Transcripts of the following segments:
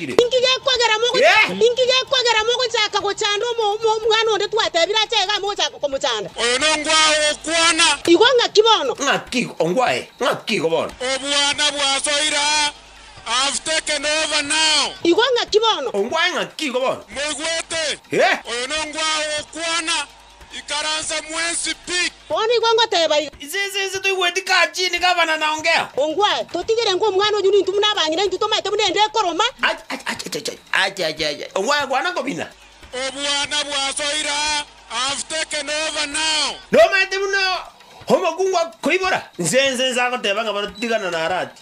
abateebire. Inki gekwegera mogochaka gochanda omwana onde twateebire ache iga mogochaka komochanda? Oyo nongwae okwana. Igo ng'aki bono? Ng'aki ongwae? Ng'aki igo bono? Obwana bwasoire aa. I have taken over now. Igo ng'aki bono? Ongwae ng'aki igo bono? Moigwete? Oyo nongwae okwana. Ikaransa mwensi pik. Bono nigo ngoteeba iga. Inse inse inse toigweti kachi ni gavana na ongea. Ongwae, totigire ng'a omwana oyio ninto buna abang'ina intwe tomaete buna ende ekoroma. Ache ache ache, ongwae kwana kobina. Obwana bwasoira have taken over now. Nomaete buna omokungu akoibora. Inse inse inse agoteeba ng'a bono tiga nonarati.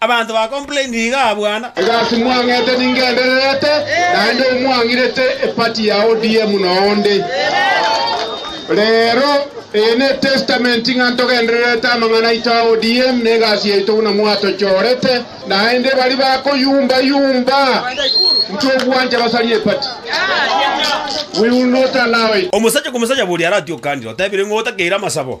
Abanto ba complain iga abwana. Egasi mwang'ete ningendererete naende omwang'irete eparty ya ODM noonde. Rero eye ne testament ng'a ntogendererete amang'ana aito a ODM ne egasi yaito buna mwatochorete naende baria bakoyumba yumba intwe obwancha basarie eparty we will not allow it. Omosacha komosacha boria aratiokandire otebire ng'o otakeire amasabo.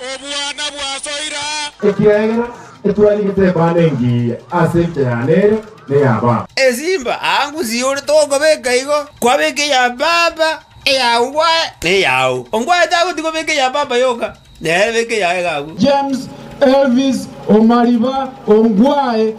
Obwana bwasoira. Ekiagera etwani getebaana engiya ase enchera ya nere ne ya Baba. Esimba aangu siyore togobeka igo, kwabeka eya Baba, eyao bwaye, na eyao. Onkwaye tagoti kobeka eya Baba yoka, nere beka eyaye gakwe. James Elvis Omariba, onkwaye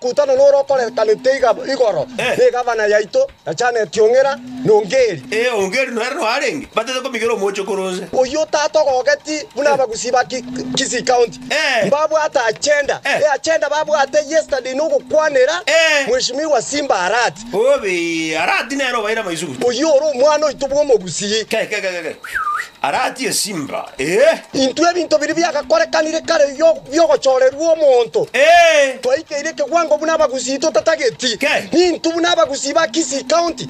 Kotana nore okorekanete igoro negavana yaito yachaneti ong'era nongeri. Ee, ongeri nere noarenge, batete komigera omoche kore onse. Oyio tata ogogeti buna abagusii ba Kisii County mbabwate agenda. E agenda babwate yesterday nogokwanera Mheshimiwa Simba Arati. Obe, Arati nere obaire amaisugute. Oyio ore omwana oito bwomogusii. Aratie esimba, ee. Intwe ebinto biria biagakorekanire kare bi'ogochorerwa omonto, twaikeire ekewango buna abagusii totatageti, nintwe buna abagusii ba Kisii County.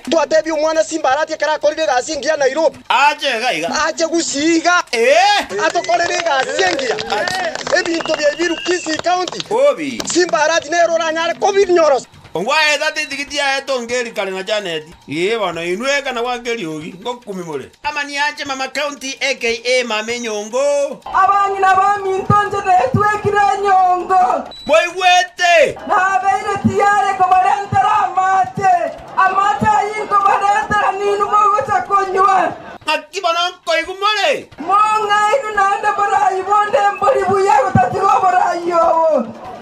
Twatebia omwana simba aratie ekero akorire egasi engiya Nairobi, ache Gusii iga atokorere egasi engiya, ebinto biaye biru Kisii County. Simba aratie nere oranyare kobinyorosia. Ogwaeta tetigiti yaye tongeri kare na Janet. Ee bono inwe ekana gwa Keriogi ngokumi more. Amani ache mama county aka mama enyongo. Abang'ina baminto inche netwekire enyongo. Mboigwete? Nabeire tiyare kobarentera amache. Amache ayio inkobaretera ninwe mogocha konywa. Ng'aki bono nkoigwa more? Mong'aini naende borai bonde mbori buya gotatiga oborai obo.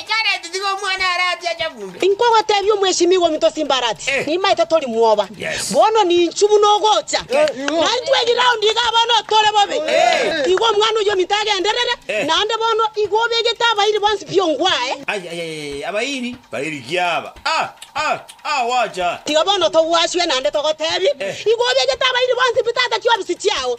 Ikarati tiga omwana are ati ache kumbe. Inkogotebia omwesimigwa ominto Simbarati, nimaete tori mwoba. Bono ninchu buna ogocha, na intwe egiraundi iga bono tore bobe. Tiga omwana oyio ominto agenderere, naende bono igo obegete abairi bonsi pi ongwae. Abairi baririkia aba, aa, gwacha. Tiga bono togwasue, naende togotebie, igo obegete abairi bonsi pi tata chiofisi chiao.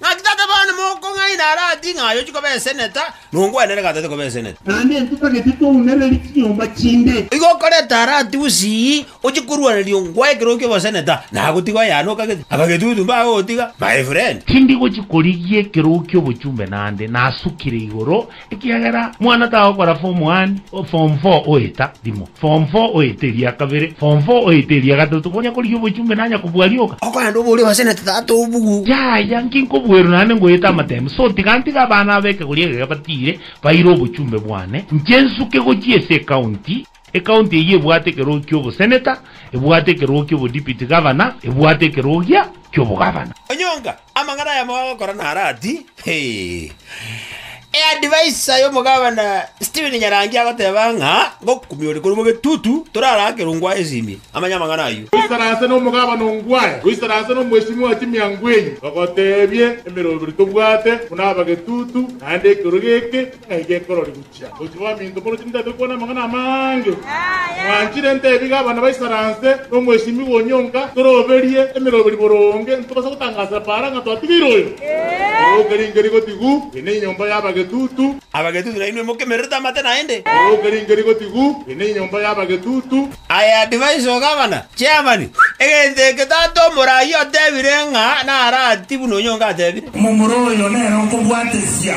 Naki tata bane mokong'aina aratie ng'a ayo chikobeseneta, nongwenerere ng'a tatikobeseneti. Naende intwe tagete twaunererie chinyomba chinde. Igo okoreta aratie bosii, ochie korwaneria ongwae ekero ki'oboseneta, na agotiga oyane okagete, abagetutu mbaye ogotiga, my friend. Tindi gochia korigia ekero ki'obochumbe naende nasukire igoro Ekiagera mwana tagokorafa omwaani o form four oeta rimo, form four oeta eria kabere, form four oeta eria gatato, konya korigia obochumbe nanya kobua rioka. Okorende obe oria obasenete tata obugu. Yaya, nki nkobuerwe naende ngoeta amateembe? So tiga ntige abana ab'ekegori egeke batiire baire obochumbe bwane, nche nsuke gochia ase ecounty. Ekaunti eyio ebwate ekerogo ki'oboseneta, ebwate ekerogo ki'obodipiti gavana, ebwate ekerogo gia ki'obogavana. Onyonga, amang'ana ayamo agokora naro ati, Ee, adviser y'omogavana Stephen Nyarangi agoteba ng'a ngokumia ore korwa mogetutu, toraraakere Ongwae esimi, amanye amang'ana ayio. Goisana ase nomogavana Ongwae, goisana ase nomweshimiwa Jimmy Angwenyi, bagotebie emeroberi tobwate buna abagetutu, naende ekerogo eke ng'ai gekororigwe. Gochia gwaminto morochio nintagete gokwana amang'ana amange. Mwanchire ntebige abana baisaranse nomwesimigwa onyonka toroberie emeroberi boronge ntobase gotangasera para ng'a twatigeire oyo orouka ringe rigotigu, eye nenyomba y'abagetutu. Abagetutu nainwe mokemererete amate naende. Orouka ringe rigotigu, eye nenyomba y'abagetutu. Aye advice o gavana, chairman, egento eke tata omoraai otebire ng'a narati buna onyonka atebire. Momura oyo nere okobwatesia.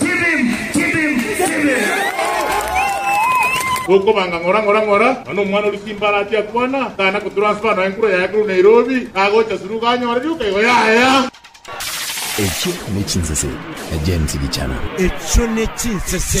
Tibim! Tibim! Tibim! Gokobanga ng'ora ng'ora ng'ora, nonya omwana oria Simbarati akwana, tari na kotransfer nonya enkura yaye korwa Nairobi agocha Suruga anyore rioka igo yaya. Echio ne chinsese James Gichana. Echio ne chinsese.